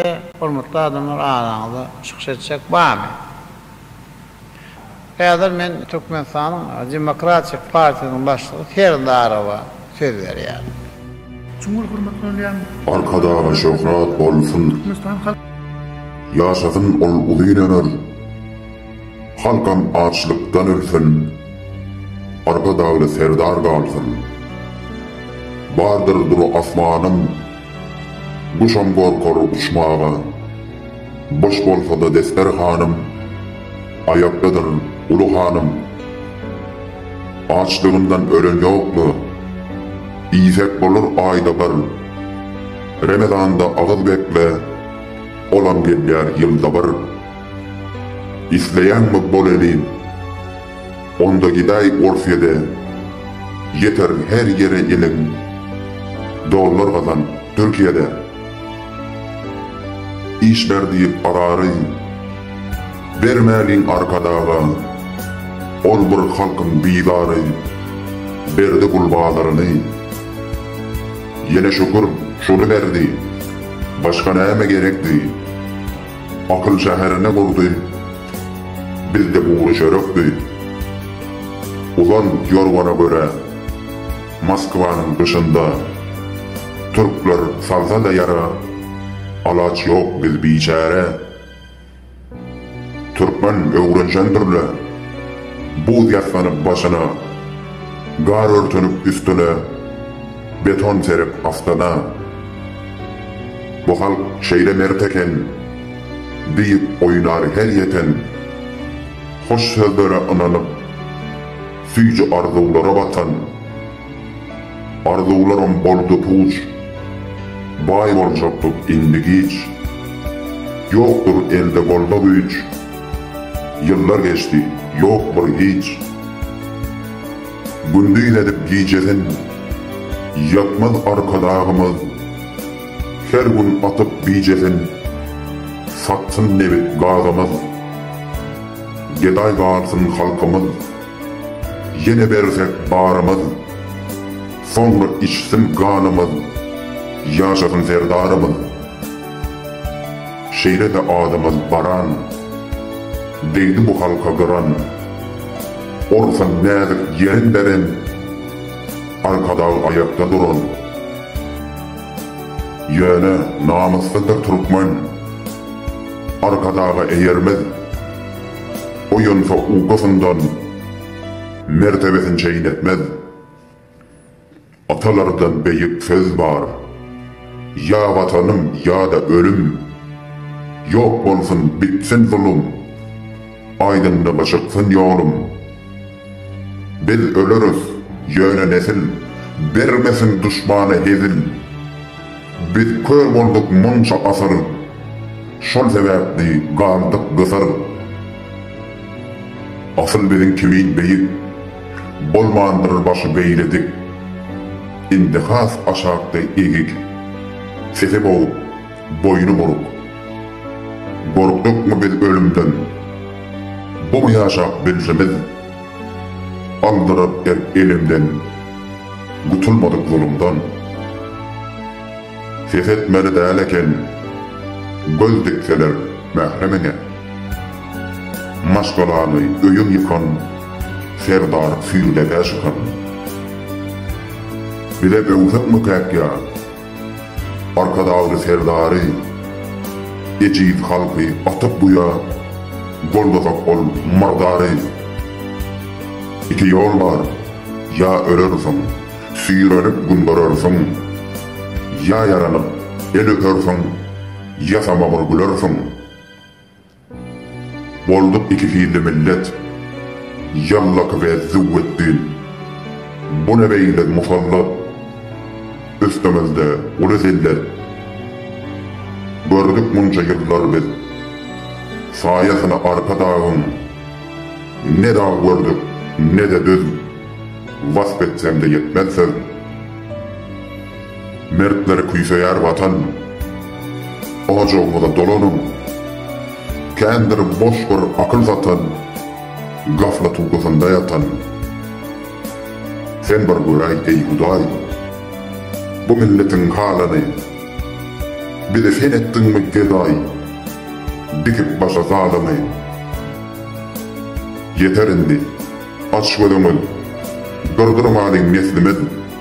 Ýöne hormatly adamlar araňyzda çykyş etjek barmy? Häzir men Türkmenistanyň Demokratik partiýasynyň başlygy Serdarowa söz berýärin. Çuň bol hormat bolýan. Arkadagly şöhrat bolsun. Türkmenistan halk. Ýaşasyn ol uzyn ömür. Halkam açlykdan ölsün. Arkadagly Serdar galsyn. Bardyr dur asmanym. Guşam gorkar uçmaga. Boş bolsa-da desterhanym, Aýakdadyr uly hanym. Açlygyndan ölen ýok-la, Iýsek bolar aýda bir. Remezanda agyz bekle, Olam gelýär ýylda bir. Isleýäňmi bol eli? Onda gidaý Orsýede ýeterin her ýere iliň dollar gazan Türkiýede iş ber diýip arary bermäliň arkadaga ol bir halkyň bizary berdi gul bazaryny ýene şükür şuny berdi başga näme gerekdi. Akyl şäherine gurdy. Bizde gury çörekdi. Uzan ýorgana görä, Moskwanyň gyşynda Türkler salsa-da ýara, Alaç ýok biz biçäre. Türkmen öwrenşendir-le, Buz ýassanyp başyna, Gar örtünip üstüne, Beton serip astana. Bu halk şeýle mert eken, Diýip oýnar her ýeten. Hoş sözlere ynanyp, Süýji arzuwlara batan. Arzuwlarym boldy puç, Baý boljakdyk indi giç. Ýokdur elde golda güýç, Ýyllar geçdi, ýok bir hiç. Gündiz edip gijeden Ýatmaz Arkadagymyz Her gün atyp bijeden Satsyn nebit gazymyz Gedaý galsyn halkymyz Ýene bersek barymyz Soňra içsin ganymyz Ýaşasyn Serdarymyz Şeýle-de adymyz baran Degdi bu halka gyran. Orusam näzik ýeren beren, Arkadag aýakda duran. Ýöne namyslydyr türkmen, Arkadaga eýermez. Oýansa ukusyndan, Mertebesin çeýnetmez. Atalarda beýik söz bar, Ýa Watanym, ýa-da ölüm! Ýok bolsun, bitsin zulum, Aýdyňlyga çyksyn ýolum! Biz öleris, ýöne nesil, Bermesin duşmana hezil! Biz kör bolduk munça asyr, Şol sebäpli galdyk gysyr! Asyl biziň kimin beýik. Bolmandyr başy beýle dik. Indi has aşakda egik. Sesi boguk, boýny buruk. Gorkdukmy biz ölümden? Bumy ýaşap bilşimiz? Aldyryp erk elimden. Gutulmadyk zulumdan. Ses etmeli däl eken. Göz dikseler mähremiňe. Maşgalaňy öýüň ýykan, Serdar süýrüdäkä şykan. Bize böwsek-mökäk ýa, Arkadagly Serdary, Ejiz halky atyp guýa, Goldasak ol myrdary. Iki ýol bar, ýa ölersiň, Süýrenip gün görersiň, Ýa ýaranyp el öpersiň, Ýasama bir gülersiň. Bolduk iki hilli millet, Ýallaky we Züwwetdi. Bu ne beýle musallat, Üstümizde uly zillet. Gördük munça ýyllar biz, Saýasyny arpa dagyň. Ne dag gördük, ne-de düz, Wasp etsemde ýetmez söz. Mertler küýseýär Watan. Ojagymyza dolanyň. Kändir boş bir akyl satan, Gaflat ukusynda ýatan. Sen bir göräý, eý Hudaý, Bu milletiň halyny. Bizi sen etdiňmi gedaý, Dikip başa zalymy. Ýeter indi, aç gözüňiz, Gyrdyrmalyň neslimiz.